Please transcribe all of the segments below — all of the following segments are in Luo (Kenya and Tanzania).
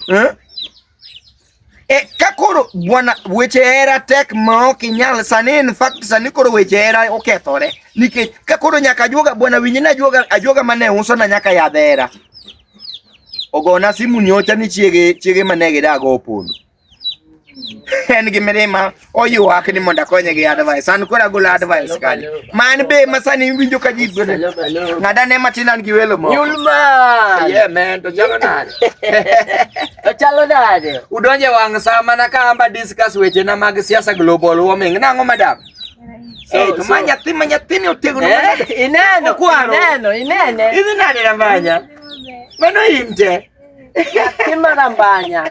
eh? E, ka koro bwana weche hera tek ma ok inyal sani, in fact sani koro weche hera okethore nikech ka koro nyaka ajuoga bwana winyi na ajuoga ajuoga mane uso na nyaka yadh hera ogona simu nyocha ni chiege chiege mane gidago opondo en gi mirima oywak ni mondo akonye gi advice an koro agolo advice kani man be masani winjo ka ji gwene ng'ada ne matin an gi welo moko Yulman! Yeah, man, to chalo nade? To chalo nade? Udonje wang' saa mana ka amba discuss weche na mag siasa global warming. Nang'o madam? So- Eh, to so- ma nyathi ma nyathini otegno Eh, manade. ineno, Okwaro. ineno, inene. Idhi nade na mbanya? Mano in te. Nyathi marambanya.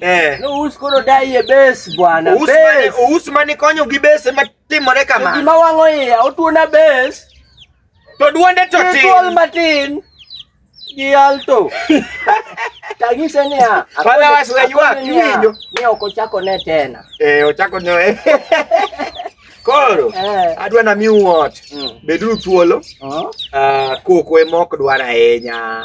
Eh. No us koro dai e base bwana. Us mane us mane konyo gi base ma timore kama. Gima wango iya otuona base. To duonde to tin. Gol matin. Gi alto. Tagise ni a. Pala wasla ywa kiwinjo. Ni ok ochako ne tena. Eh ochako ne. Koro eh. adwa na mi wuot. Mm. Beduru thuolo. Uh-huh. Ah koko emok dwara ahinya.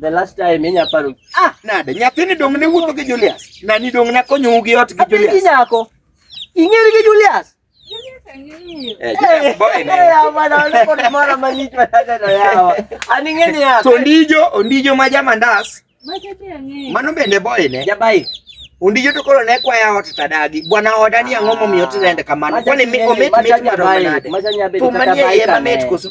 The last time inya paro. Ah, nade nyathini dong ne wuotho gi Julius. Nani dong na konyo gi ot gi Julius. Apenji nyako. Ing'eri gi Julius? Eh, to ondijo ondijo ma jamandas mano bende boyne jabai Undijo to koro ne kwaya ot tadagi. Bwana oda ni ang'o momiyo tirende kamano? Kwani mi omit mit maro nade? Thum manie iye mamit koso?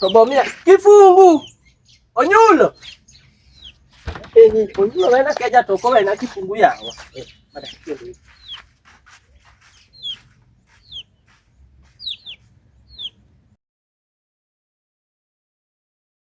Tobomia kifungu onyulo eni onyulo wena keja toko wena kifungu yawa eh,